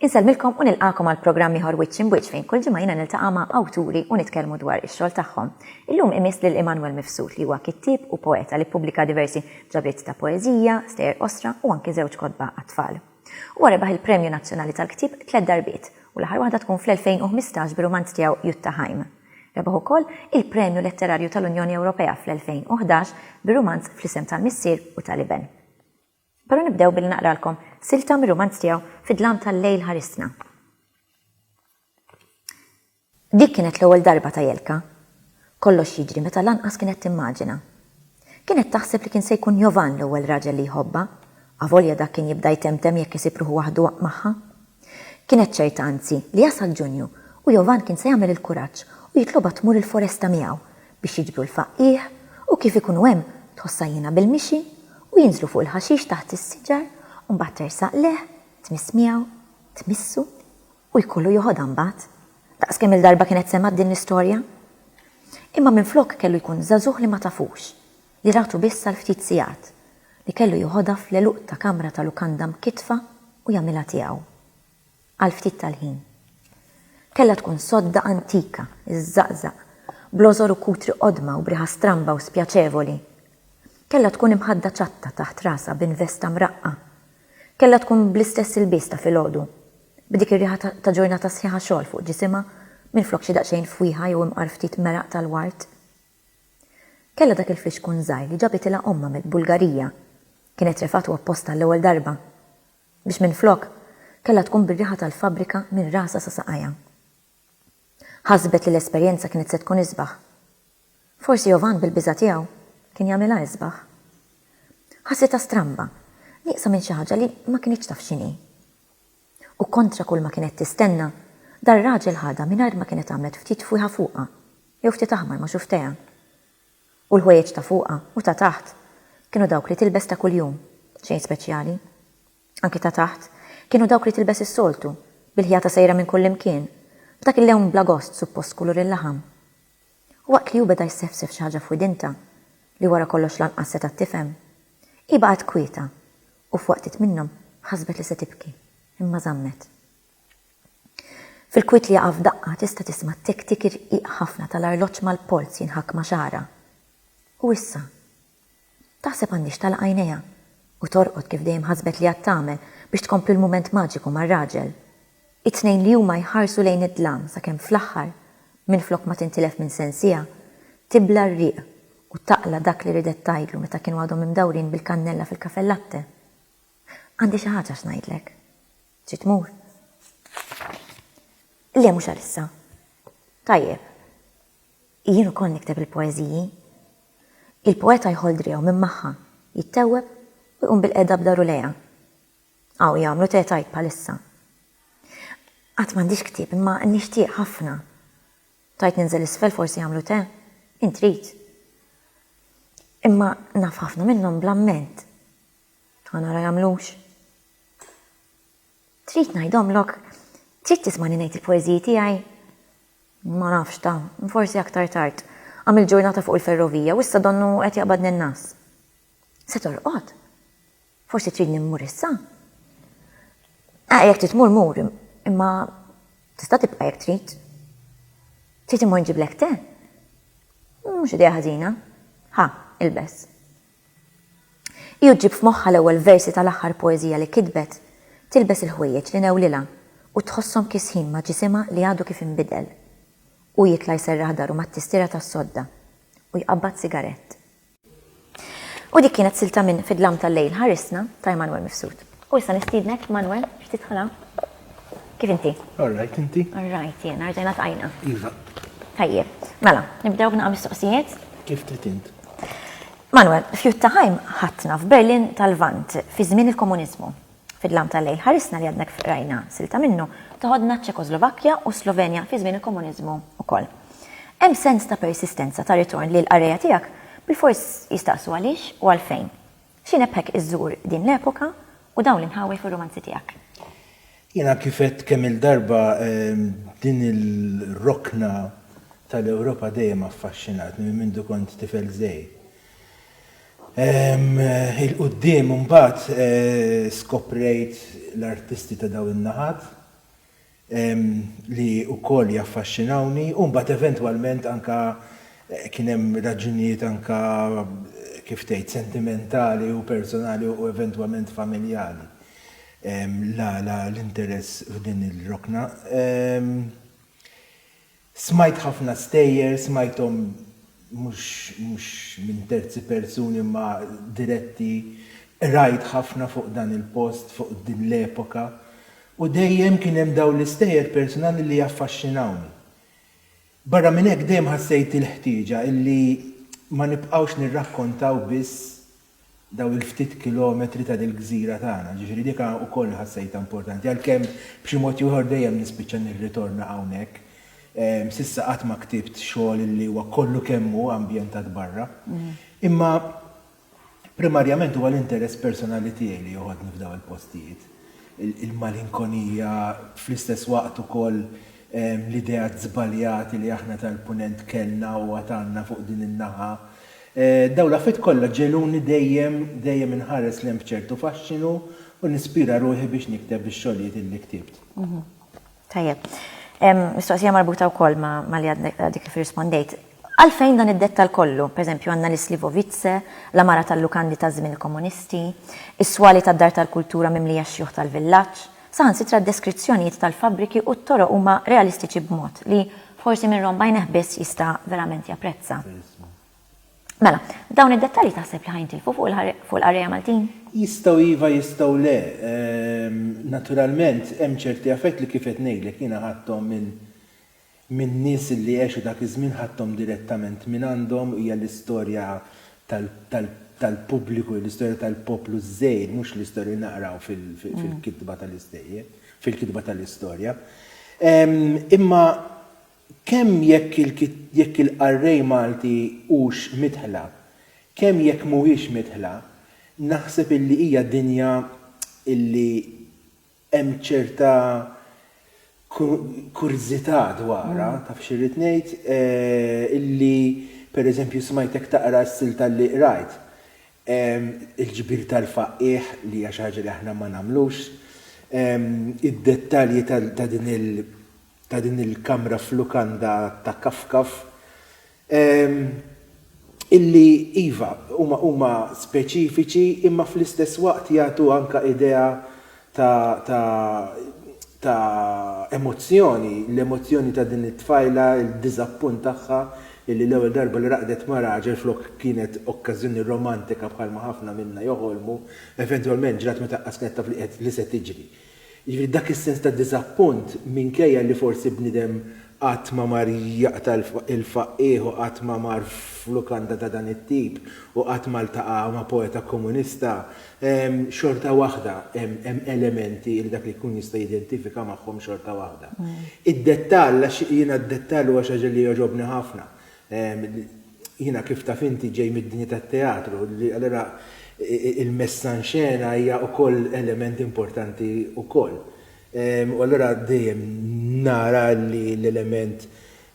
Insellmilkom u nilqakom għal programm ieħor Wiċċ Imwiċċ fejn kull ġimgħa jiena niltaqa' ma' awturi u nitkellmu dwar ix-xogħol tagħhom. Illum imiss lil Immanuel Mifsud li huwa kittieb u poeta li ppubblika diversi ġabriet ta' poeżija, stejjer qosra u anki żewġ kotba għat-tfal. Huwa rebaħ il-Premju Nazzjonali tal-Ktieb tliet darbiet, u l-aħħar waħda tkun fl-2015 bir-rumanz tiegħu Juttaheim. Rebaħ ukoll il-Premju Letterarju tal-Unjoni Ewropea fl-2011 bir-rumanz Fl-Isem tal-Missier u tal-Iben. Però nibdew billi naqralkom silta mir-rumanz tiegħu Fid-Dlam tal-Lejl Ħarisna. Dik kienet l-ewwel darba ta' Jelka. Kollox jiġri meta lanqas kienet timmaġina. Kienet taħseb li kien se jkun Jovan l-ewwel raġel li jħobbha, avolja dak kien jibda jtemtem jekk isib ruħu waħdu magħha. Kienet ċerta anzi li jasal Ġunju u Jovan kien se jagħmel il-kuraġġ u jitlobha tmur il-foresta miegħu biex jiġbru l-faqqigħ u kif ikunu hemm tħossha hiena bil-mixi u jinżlu fuq il-ħaxix taħt is-siġar u mbagħad tersaq lejh, tmiss miegħu, tmissu. U jkollu joħodha mbagħad. Daqs kemm-il darba kienet semgħet din l-istorja? Imma minflok kellu jkun żagħżugħ li ma tafux, li ratu biss għal ftit sigħat, li kellu joħodha fl-għeluq ta' kamra ta' lukanda mkittfa u jagħmilha tiegħu. Għal ftit tal-ħin. Kellha tkun sodda antika, iżżaqżaq, bl-għożor u kutri qodma u b'riħa stramba u spjaċevoli. Kellha tkun imħadda ċatta taħt rasha b'investa mraqqa. Kellha tkun bl-istess ilbies ta' filgħodu. b'dik ir-riħa ta' ġurnata sħiħa xogħol fuq ġisimha minflok xi daqsxejn fwieħa jew imqar ftit meraq tal-ward. Kellha dak il-fixkun żgħir li ġabitilha ommha mill-Bulgarija, kienet refgħtu apposta għall-ewwel darba, biex minflok, kellha tkun bir-riħa tal-fabbrika minn rasha sa saqajha. Ħasbet li l-esperjenza kienet se tkun isbaħ. Forsi Jovan bil-biża' tiegħu kien jagħmilha isbaħ. Ħassitha stramba, nieqsa minn xi ħaġa li ma kinitx taf x'inhi. U kontra kull ma kienet tistenna, dar-raġel ħadha mingħajr ma kienet għamlet ftit fwieħa fuqha, jew ftit aħmar ma' xufftejha. U l-ħwejjeġ ta' fuqha u ta' taħt kienu dawk li tilbes ta' kuljum, xejn speċjali. anki ta' taħt, kienu dawk li tilbes is-soltu, bil-ħjata sejra minn kullimkien, b'dak il-lewn bla gost suppost kulur il-laħam. U waqt li hu beda jsefsef xi ħaġa f'widintha, li wara kollox lanqas setgħet tifhem, hi baqgħet kwieta u f'waqtiet minnhom ħasbet li se tibki, imma żammet. Fil-kwiet li jaqa' f'daqqa tista' tisma' t-tik-tik irqiq ħafna tal-arloġġ mal-polz jinħakk ma' xagħarha. U issa? Taħseb għandhiex tagħlaq għajnejha u torqod kif dejjem ħasbet li għad tagħmel biex tkompli l-mument maġiku mar-raġel. It-tnejn li huma jħarsu lejn id-dlam sakemm fl-aħħar, minflok ma tintilef minn sensiha, tibla' r-riq u taqla' dak li ridet tgħidlu meta kienu għadhom imdawrin bil-kannella fil-cafe latte. Għandi xi ħaġa x'ngħidlek. Trid tmur? Le mhux għalissa. Tajjeb. Jien ukoll nikteb il-poeżiji. Il-poeta jħoll driegħu minn magħha, jittewweb u jqum bilqiegħda b'dahru lejha. Hawn jagħmlu te tajb bħalissa. Għad m'għandix ktieb imma nixtieq ħafna. Tgħid ninżel isfel forsi jagħmlu te? Int trid. Imma naf ħafna minnhom bl-amment. Ħa nara jagħmlux. Trid ngħidhomlok? Trid tismani ngħid il-poeżiji tiegħi? Ma nafx, ta, forsi aktar tard. Għamilt ġurnata fuq il-ferrovija u issa donnu qed jaqbadni n-ngħas. Se torqod? Forsi tridni mmur issa? Ah, jekk trid tmur mur, imma tista' tibqa' jekk trid. Trid immur nġiblek te? Mhux idea ħażina. Ħa, ilbes. Hi u ġġib f'moħħha l-ewwel versi tal-aħħar poeżija li kitbet, tilbes il-ħwejjeġ li newlilha u tħosshom kisħin ma' ġisimha li għadu kif inbidel. Hu jitla' jserraħ daru mat-tistiera tas-sodda u jqabbad sigarett. U dik kienet silta minn Fid-dlam tal-lejl ħarisna ta' Emanuel Mifsud. U issa nistiednek Manuel biex tidħol hawn. Kif inti? All right, inti? All right, jena, rġajna tqajna. Iva. Tajjeb. Mela, nibdew b'naqa' mistoqsijiet. Kif trid int? Manuel, f'Juttaheim ħatna f'Berlin tal-Vant fi żmien il-komuniżmu. Fid-lam tal-lej ħarisna li għadna rajna silta minnu toħodna ċ-Ċekoslovakkja u Slovenja fi żmien il-komuniżmu wkoll. Hemm sens ta' persistenza ta' ritorn li l-qarrejja tiegħek bil-fors jistaqsu għaliex u għalfejn. Xi nebbħek iżżur din l-epoka u dawn l-inħawi fir-rumanzi tiegħek? Jiena kif għedt kemm-il darba din ir-rokna tal-Ewropa dejjem affaxxinatni minn mindu kont tifel żgħir. 'il quddiem imbagħad skoprejt l-artisti ta' dawn in-naħat li wkoll jaffaxxinawni u mbagħad eventwalment anke kien hemm raġunijiet anke kif tgħid sentimentali u personali u eventwament familjali l-għala l-interess f'din il-rokna. Smajt ħafna stejjer, smajthom mhux minn terzi persuni imma diretti, qrajt ħafna fuq dan il-post, fuq din l-epoka, u dejjem kien hemm dawn l-istejjer persunali li jaffaxxinawni. Barra minn hekk dejjem ħassejt il-ħtieġa illi ma nibqgħux nirrakkontaw biss dawn il-ftit kilometri ta' dil-gżira tagħna, ġifieri dik ukoll ħassejtha importanti, għalkemm b'xi mod jew ieħor dejjem nispiċċa nirritorna hawnhekk. S'issa qatt ma ktibt xogħol li huwa kollu kemm hu ambjentat barra. Imma primarjament huwa l-interess personali tiegħi li joħodni f'dawn il-postijiet, il-malinkonija, fl-istess waqt ukoll l-ideat żbaljati li aħna tal-Punent kellna u għad għandna fuq din in-naħa. Dawn l-affarijiet kollha ġegħluni dejjem, dejjem inħares lejn b'ċertu faxxinu u nispira ruħi biex nikteb ix-xogħlijiet illi ktibt. Tajjeb. Mistoqsija marbuta wkoll ma' li għadek kif irrispondejt. Għalfejn dan id-dettall kollu? Pereżempju, għandna l-Islivovitze, l-għamara tal-lukandi taż-żmien il-Komunisti, is-swali tad-Dar tal-Kultura mimlija x-xjuħ tal-villaġġ, Saħansitra d-deskrizzjonijiet tal-fabbriki u t-toroq huma realistiċi b'mod li forsi min romb għajnejh biss jista' verament japprezza. Mela, dawn id-dettalji taħseb li ħa jintilfu fuq il-qarrejja Maltin? Jistgħu iva jistgħu le. Naturalment hemm ċerti affarijiet li kif qed ngħidlek jiena ħadthom minn min-nies li għexu dak iż-żmien ħadthom direttament mingħandhom, hija l-istorja tal-pubbliku, l-istorja tal-poplu żgħir, mhux l-istorja li naqraw fil-kitba tal-istejjer, fil-kitba tal-istorja. Imma kemm jekk il-qarrej Malti hux midħla, kemm jekk mhuwiex midħla, naħseb illi hija dinja illi hemm ċerta kurżità dwarha, taf x'irrid ngħid, illi pereżempju smajtek taqra s-silta li qrajt, il-ġbir tal-faqqiegħ li hija xi ħaġa li aħna ma nagħmlux, id-dettalji ta' din il-kamra f'lukanda ta' Kafkaf, illi iva, huma speċifiċi imma fl-istess waqt jagħtu anke idea ta' emozzjoni, l-emozzjoni ta' din it-tfajla, id-diżappunt tagħha illi l-ewwel darba li raqdet ma' raġel flok kienet okkażjoni romantika bħalma ħafna minna joħolmu, eventwalment ġrat meta qas kienet taf li se tiġri. Jiġifieri dak is-sens ta' diżappunt minkejja li forsi bniedem qatt ma mar jaqta' l-faqqigħ u qatt ma mar f'lukanda ta' dan it-tip u qatt ma ltaqa' ma' poeta komunista, xorta waħda hemm elementi li dak li jkun jista' jidentifika magħhom xorta waħda. Id-dettall, għax jiena d-dettall huwa xi ħaġa li jogħġobni ħafna, Jiena kif taf inti ġej mid-dinja tat-teatru, allura il-messa in scena hija wkoll element importanti wkoll. U allura dejjem nara li l-element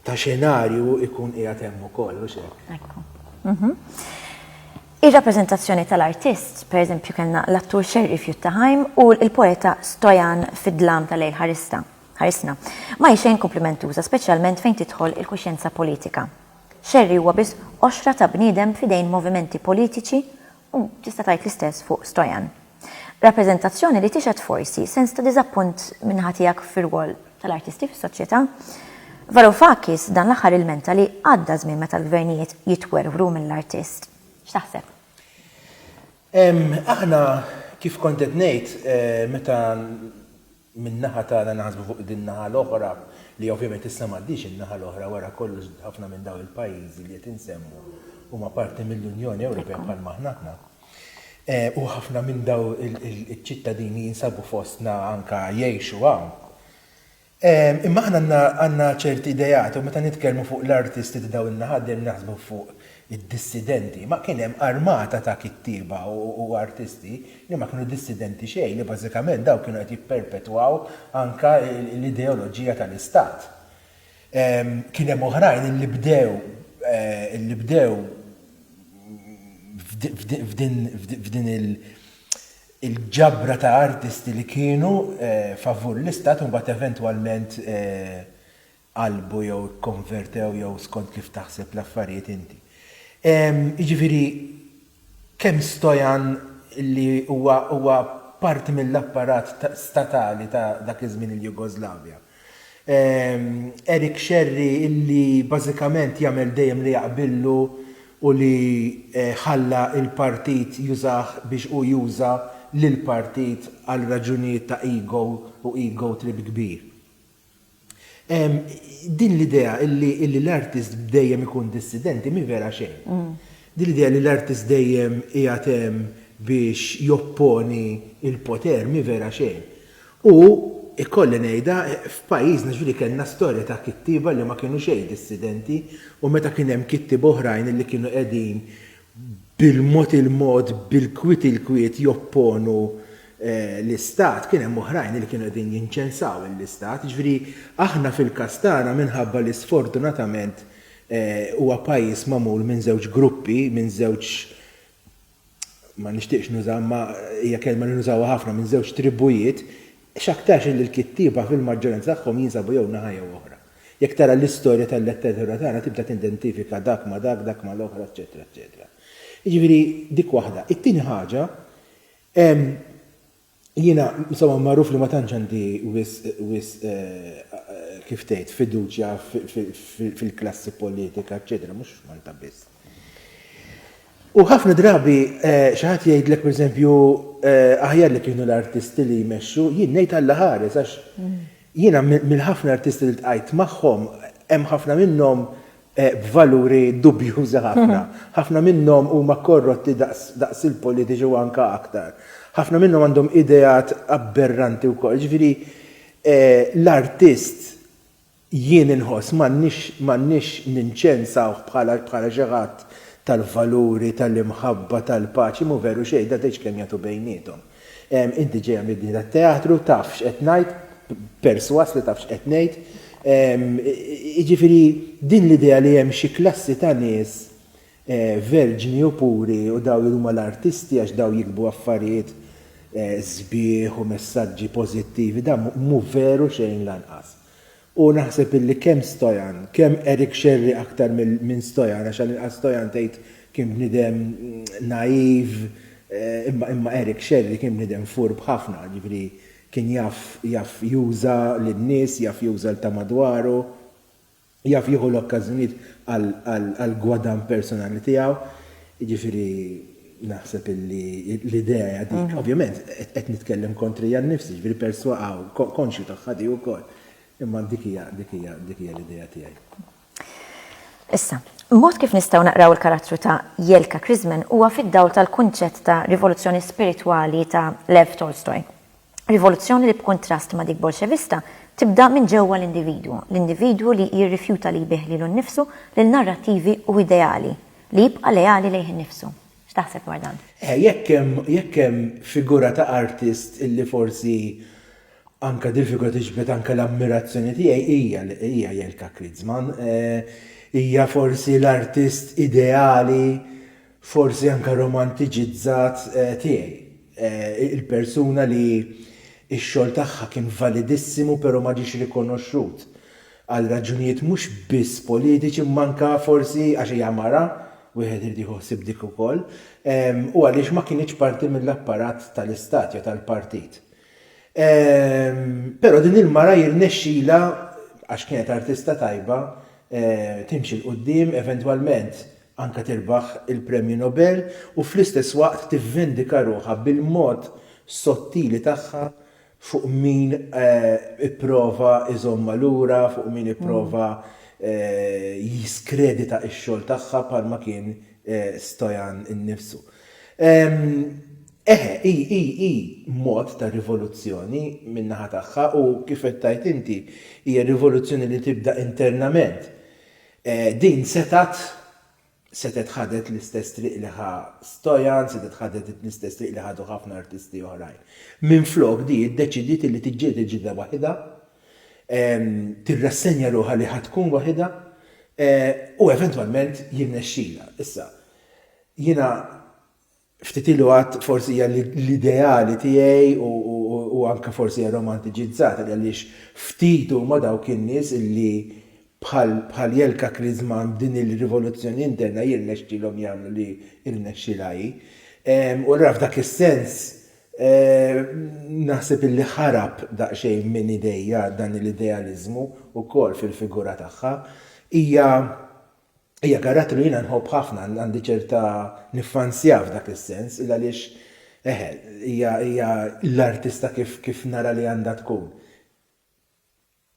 ta' xenarju jkun qiegħed hemm ukoll, mhux hekk? Ekku. Ir-rappreżentazzjoni tal-artist, pereżempju kellna l-attur Scerri f'Juttaheim u l-poeta Stoyan fid-Dlam tal-Lejl Ħarista. Ħarisna. Ma hi xejn kumplimentuża speċjalment fejn tidħol il-kuxjenza politika. Xerri huwa biss qoxra ta' bniedem f'idejn movimenti politiċi u tista' tgħid l-istess fuq Stojan. Rappreżentazzjoni li tixhed forsi sens ta' diżappunt min-naħa tiegħek fir-rwol tal-artisti fis-soċjetà. Varoufakis dan l-aħħar ilmenta li għadda żmien meta l-gvernijiet jitwerwru mill-artist. X'taħseb? Aħna, kif kont qed ngħid, meta Min-naħa tagħna naħsbu fuq din naħa l-oħra li ovvjament issa m'għaddhiex in-naħa l-oħra wara kollox ħafna minn dawn il-pajjiżi li qed insemmu huma parti mill-Unjoni Ewropea bħal ma aħna aħna. U ħafna minn dawn iċ-ċittadini jinsabu fostna anke jgħixu hawn. Imma aħna għandna ċerti ideat u meta nitkellmu fuq l-artisti ta' dawn in-naħat dejjem naħsbu fuq id-dissidenti, ma kien hemm armata ta' kittieba u artisti li ma kienu dissidenti xejn, li bażikament dawn kienu qed jipperpetwaw anke l-ideoloġija tal-Istat. Kien hemm oħrajn illi bdew, illi bdew f'din il-ġabra ta' artisti li kienu favur l-Istat u mbagħad eventwalment qalbu jew ikkonvertew jew skont kif taħseb l-affarijiet inti. Jiġifieri kemm Stojan li huwa huwa parti mill-apparat statali ta' dak iż-żmien il-Jugoslavja. Eric Xerri li bażikament jagħmel dejjem li jaqbillu u li ħalla l-partit jużah biex hu juża lill-partit għal raġunijiet ta' ego u ego trip kbir. Din l-idea li l-artist dejjem ikun dissidenti mhi vera xejn. Din l-idea li l-artist dejjem qiegħed hemm biex jopponi l-poter mhi vera xejn. U, ikolli ngħidha, f'pajjiżna jiġifieri kellna storja ta' kittieba li ma kienu xejn dissidenti u meta kien hemm kittieba oħrajn li kienu qegħdin bil-mod il-mod, bil-kwiet il-kwiet jopponu l-Istat, kien hemm oħrajn li kienu qegħdin jinċensaw lill-Istat. Jiġifieri aħna fil-każ tagħna minħabba li sfortunatament huwa pajjiż magħmul minn żewġ gruppi, minn żewġ ma nixtieqx nuża imma hija kelma li nużawha ħafna minn żewġ tribujiet, x'aktarx illi l-kittieba fil-maġġoranza tagħhom jinsabu jew naħa jew oħra. Jekk tara l-istorja tal-letteratura tagħna tibda tindentifika dak ma' dak, dak ma' l-oħra, eċċetera, eċċetera. Jiġifieri dik waħda. It-tieni ħaġa, jiena insomma magħruf li ma tantx għandi wisq wisq kif tgħid fiduċja fil-klassi politika, eċċetera, mhux f'Malta biss. U ħafna drabi xi ħadd jgħidlek pereżempju aħjar li kienu l-artisti li jmexxu, jien ngħid Alla ħares għax jiena mill-ħafna artisti li ltqajt magħhom hemm ħafna minnhom b'valuri dubjużi ħafna. Ħafna minnhom huma korrotti daqs il-politiċi u anke aktar. Ħafna minnhom għandhom ideat abberranti wkoll. Jiġifieri l-artist Jien inħoss m'għandniex m'għandniex ninċensawh bħala bħala xi ħadd tal-valuri, tal-imħabba, tal-paċi, mhu veru xejn, dan tgħidx kemm jagħtu bejniethom. Inti ġejja mid-dinja tat-teatru, taf x'qed ngħid, persważ li taf x'qed ngħid. Jiġifieri din l-idea li hemm xi klassi ta' nies verġni u puri u dawn li huma l-artisti għax dawn jiktbu affarijiet sbieħ u messaġġi pożittivi, dan mhu veru xejn lanqas. U naħseb illi kemm Stojan, kemm Eric Xerri aktar minn Stojan, għax għall-inqas Stojan tgħid kien bniedem naiv, imma Eric Xerri kien bniedem furb ħafna, jiġifieri kien jaf jaf juża lin-nies, jaf juża 'l ta' madwaru, jaf jieħu l-okkażjonijiet għall-gwadann personali tiegħu, jiġifieri. Naħseb illi l-idea hija dik. Ovvjament, qed nitkellem kontrija nnifsi, ġifieri perswa konxju tagħha di wkoll. Imma dik hija dik hija dik hija l-idea tiegħi. Issa, mod kif nistgħu naqraw il-karattru ta' Jelka Krisman huwa fid-dawl tal-kunċett ta' rivoluzzjoni spiritwali ta' Lev Tolstoy. Rivoluzzjoni li b'kuntrast ma' dik Bolxevista, tibda minn ġewwa l-individwu, l-individwu li jirrifjuta li jbigħ lilu nnifsu lil narrattivi u ideali, li jibqa' leali lejh innifsu. X'taħseb dwar dan? Eh, jekk hemm, jekk hemm figura ta' artist illi forsi anke dil-figura tiġbed anke l-ammirazzjoni tiegħi hija, hija Jelka Kritzman. Eh, hija forsi l-artist ideali forsi anke romantiċizzat tiegħi, il-persuna li x-xogħol tagħha kien validissimu però ma ġiex rikonoxxut għal raġunijiet mhux biss politiċi imma anke forsi għax hija mara, wieħed irid jieħu ħsieb dik ukoll, u għaliex ma kinitx parti mill-apparat tal-istat jew tal-partit. Però din il-mara jirnexxilha, għax kienet artista tajba, timxi 'l quddiem, eventwalment anke tirbaħ il-Premju Nobel u fl-istess waqt tivvendika ruħha bil-mod sottili tagħha fuq min ipprova jżommha lura, fuq min ipprova jiskredita x-xogħol tagħha bħalma kien Stojan innifsu. Eħe, hi, hi, hi mod ta' rivoluzzjoni min-naħa tagħha u, kif qed tgħid inti, hija rivoluzzjoni li tibda internament. Din setgħet setgħet ħadet l-istess triq li ħa Stojan, setgħet ħadet l-istess triq li ħadu ħafna artisti oħrajn. Minflok di iddeċidiet illi tiġġieled il-ġlieda waħidha, tirrassenja ruħha li ħa tkun waħidha u eventwalment jirnexxilha. Issa, jiena Ftit ilu għadt forsi hija l-ideali tiegħi u anke forsi hija romantiċizzata għaliex ftit huma dawk in-nies illi bħal Jelka Kriżman b'din il-rivoluzzjoni interna jirnexxilhom jagħmlu li rnexxilha hi. U allura f'dak is-sens naħseb illi ħarab daqsxejn minn idejja dan l-idealiżmu wkoll fil-figura tagħha. Hija Hija karattru li jiena nħobb ħafna, għandi ċerta niffansjah f'dak is-sens, il għaliex, eħe, hija hija l-artista kif kif nara li għandha tkun.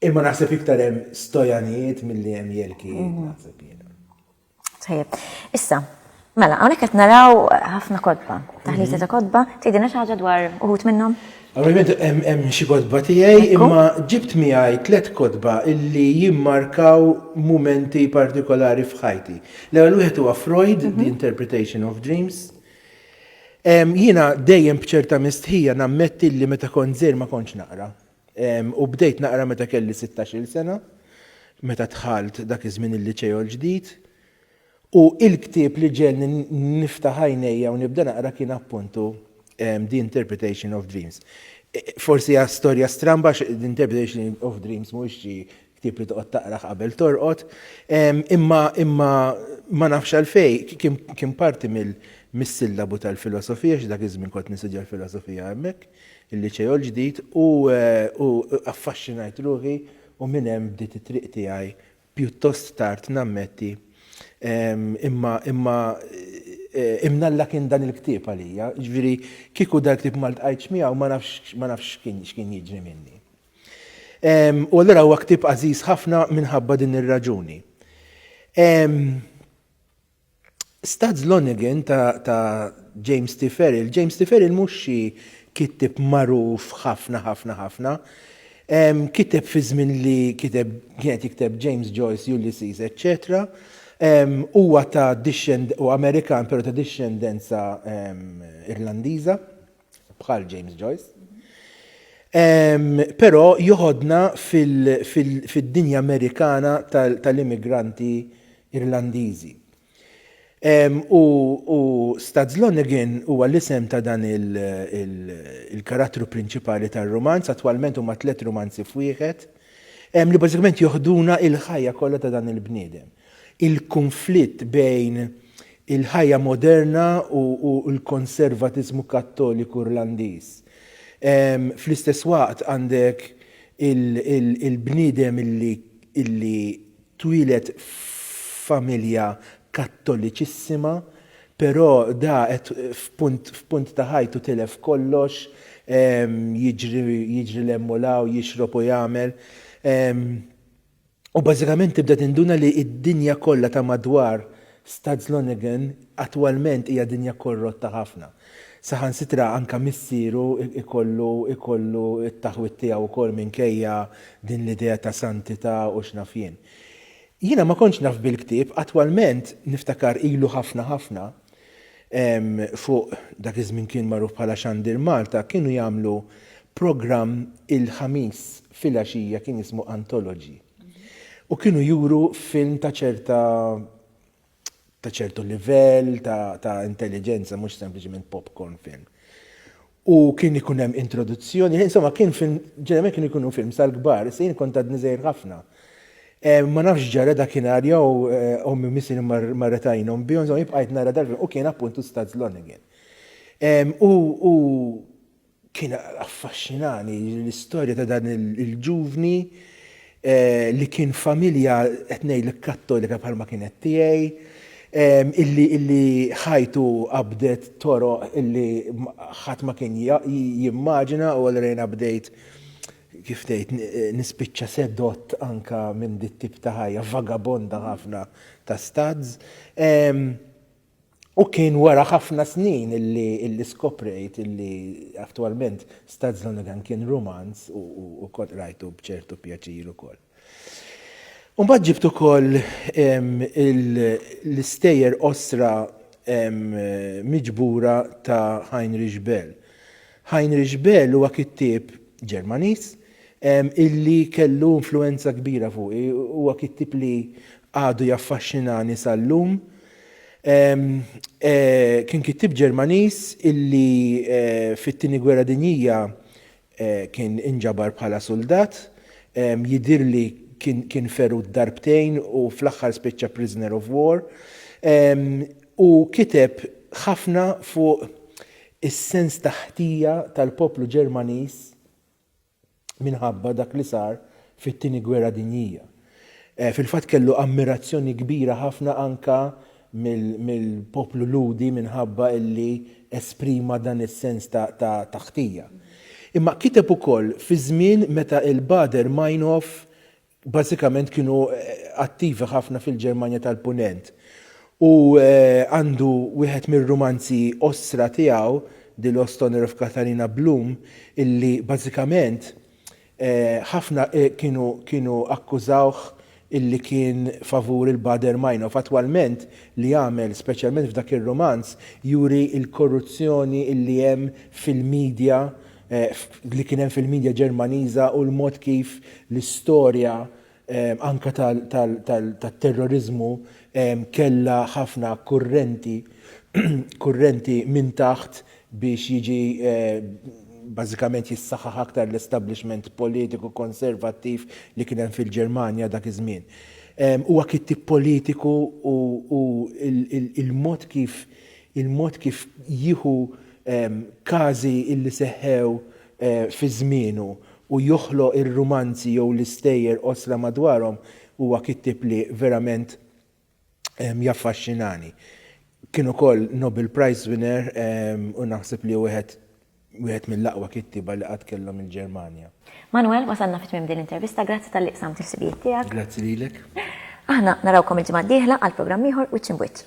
Imma naħseb iktar hemm stojanijiet milli hemm jelkijiet, naħseb jiena. Tajjeb. Issa, Mela, hawnhekk qed naraw ħafna kotba, taħlita ta' kotba, tgħidilna xi ħaġa dwar uħud minnhom? Ovvjament hemm xi kotba tiegħi, imma ġibt miegħi tliet kotba illi jimmarkaw mumenti partikolari f'ħajti. L-ewwel wieħed huwa Freud, mhm. The Interpretation of Dreams. Jiena dejjem b'ċerta mistħija nammetti li meta kont żejr ma kontx naqra. U bdejt naqra meta kelli 16-il sena, meta dħalt dak iż-żmien il-liċejo l-ġdid. U il-ktieb li ġegħelni niftaħ għajnejja u nibda naqra kien appuntu The Interpretation of Dreams. Forsi hija storja stramba għax The Interpretation of Dreams mhuwiex xi ktieb li toqgħod taqrah qabel torqod, imma imma ma nafx għalfej kien parti mis-sillabu tal-filosofija xi dak iż-żmien kont nistudja l-filosofija hemmhekk, il-Liċeo l-Ġdid, u affaxxinajt ruħi u minn hemm bdiet it-triq tiegħi Pjuttost tard, nammetti. Imma, imma, imnalla kien dan il-ktieb għalija. Jiġifieri, kieku dal-ktieb ma ltqajtx miegħu, ma nafx, ma nafx x'kien, x'kien jiġri minni. U allura huwa ktieb għażiż ħafna minħabba din ir-raġuni. Stads Lonergan ta' James T. Ferrill James T. Ferrill mhux xi kittib magħruf ħafna ħafna ħafna. Kiteb fi żmien li kiteb kien qed jikteb James Joyce, Ulysses, eċċetera. Huwa ta' dixxend u Amerikan però ta' dixxendenza Irlandiża. bħal James Joyce. Però joħodna fid-dinja Amerikana tal-immigranti Irlandiżi. U Stads Lonergan huwa l-isem ta' dan il-karattru prinċipali tar-rumanz, attwalment huma tliet rumanzi f'wieħed, li bażikament joħduna l-ħajja kollha ta' dan il-bniedem. il-kunflitt bejn il-ħajja moderna u l-konservatiżmu Kattoliku Irlandiż. Fl-istess waqt għandek il-bniedem li twieled f'familja Kattoliċissima, però da qed f'punt ta' ħajtu tilef kollox, jiġri 'l hemm u 'l hawn, jixrob u jagħmel. U bażikament tibda tinduna li d-dinja kollha ta' madwar Stadslonningen attwalment hija dinja korrotta ħafna. Saħansitra anke missieru jkollu jkollu t-taħwid tiegħu wkoll minkejja din l-idea ta' santità u x'naf jien. Jiena ma kontx naf bil-ktieb, attwalment niftakar ilu ħafna ħafna, fuq dak iż-żmien kien magħruf bħala Xandir Malta, kienu jagħmlu programm il-Ħamis filgħaxija kien jismu Anthology. U kienu juru film ta' ċerta ta' ċertu livell ta' intelliġenza mhux sempliċement popcorn film. u kien ikun hemm introduzzjoni, insomma kien film, ġeneralment kien ikunu film sal-kbar, se jien kont għadni żgħir ħafna. Eh, ma nafx ġara dakinhar jew eh, ommi misir marret għajnhom bihom, insomma jibqajt nara dal u kien appuntu Stads Lonergan. U kien affaxxinani l-istorja ta' dan il-ġuvni li kien familja qed ngħidlek kattolika bħalma kienet tiegħi, illi ħajtu qabdet toroq illi ħadd ma kien jimmaġina u allura bdejt kif tgħid nispiċċa sedott anke minn dit-tip ta' ħajja vagabonda ħafna ta' stads. U kien wara ħafna snin illi skoprejt illi attwalment Stads Lonergan kien rumanz u kont qrajtu b'ċertu pjaċir ukoll. U mbagħad ġibt ukoll l-istejjer qosra miġbura ta' Heinrich Böll. Heinrich Böll huwa kittieb Ġermaniż illi kellu influwenza kbira fuqi. Huwa kittieb li għadu jaffaxxinani sal-lum. Kien kittieb Ġermaniż illi fit-Tieni Gwerra Dinjija kien inġabar bħala suldat. Jidhirli kien ferut darbtejn u fl-aħħar spiċċa prisoner of war. Hu kiteb ħafna fuq is-sens ta' ħtija tal-poplu Ġermaniż minħabba dak li sar fit-Tieni Gwerra Dinjija. Fil-fatt kellu ammirazzjoni kbira ħafna anke mill-poplu Lhudi minħabba li esprima dan is-sens ta' ħtija. Imma kiteb ukoll fi żmien meta l-Baader Meinhof Bażikament kienu attivi ħafna fil-Ġermanja tal-Punent u għandu wieħed mir-rumanzi qosra tiegħu, Die Losthonner of Katharina Blum, illi bażikament ħafna kienu kienu akkużawh illi kien favur il-Baader-Meinhof. Attwalment li jagħmel, speċjalment f'dak ir-rumanz, juri l-korruzzjoni illi hemm fil-media li kien hemm fil-midja Ġermaniża u l-mod kif l-istorja anke tat-terroriżmu kellha ħafna kurrenti kurrenti minn taħt biex jiġi bażikament jissaħħaħ aktar l-establishment politiku konservattiv li kien hemm fil-Ġermanja dak iż-żmien. Huwa kittieb politiku u l-mod kif il-mod kif jieħu każi li seħħew fi żmienu u joħloq ir-rumanzi jew l-istejjer qosra madwarhom huwa kittieb li verament jaffaxxinani. Kien ukoll Nobel Prize winner u naħseb li hu wieħed wieħed mill-aqwa kittieba li qatt kellhom il-Ġermanja. Manuel, wasalna fi tmiem din l-intervista, grazzi talli qsamt il-ħsibijiet tiegħek. Grazzi lilek. Aħna narawkom il-ġimgħa d-dieħla għal programm ieħor Wiċċ Imb'Wiċċ.